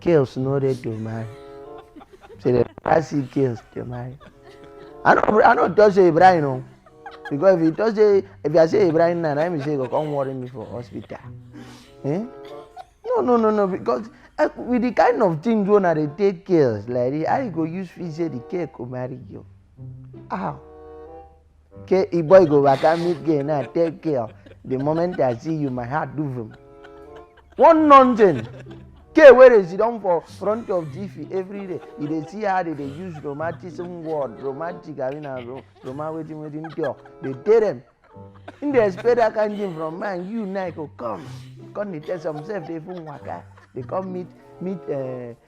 Girls no dey to marry. Say the pass you girls to marry. I no I no talk say Ibrahim o. Because if you talk say if I say Ibrahim now, na him be say you go come worry me for hospital. Eh? No no no no because eh, with the kind of things wey una dey take girls like this, how you go use feel say the girl go marry you? How? Okay, e boy go waka meet girl now take care. The moment I see you, my heart do vroom. One nonsense. K wey dey sit down for front of Jiffy every day, you dey see how they dey use romanticism word, romantic abi na ro roma wetin wetin cure, dey tell them. Him dey expect that kind thing from man, you now go come, come dey tell some sef dey even waka, dey come meet meet uh,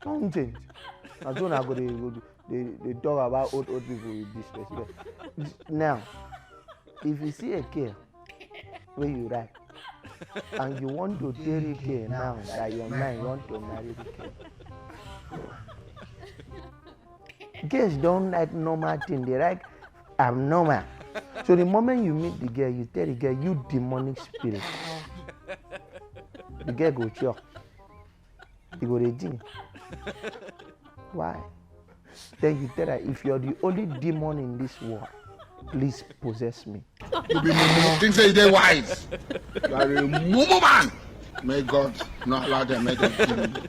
Come change. Na so una go dey go dey dey talk about old old people with disrespect. Now, if you see a girl wey you like and you want to tell the girl now that your man want to marry the girl. Girls don't like normal thing, they like abnormal. So the moment you meet the girl, you tell the girl you demonic spirit. The girl go chop. you go dey think why then he tell her if you're the only demon in this world please possess me. you be mumu think say you dey wise you are a mumu man may god not allow them make them kill you.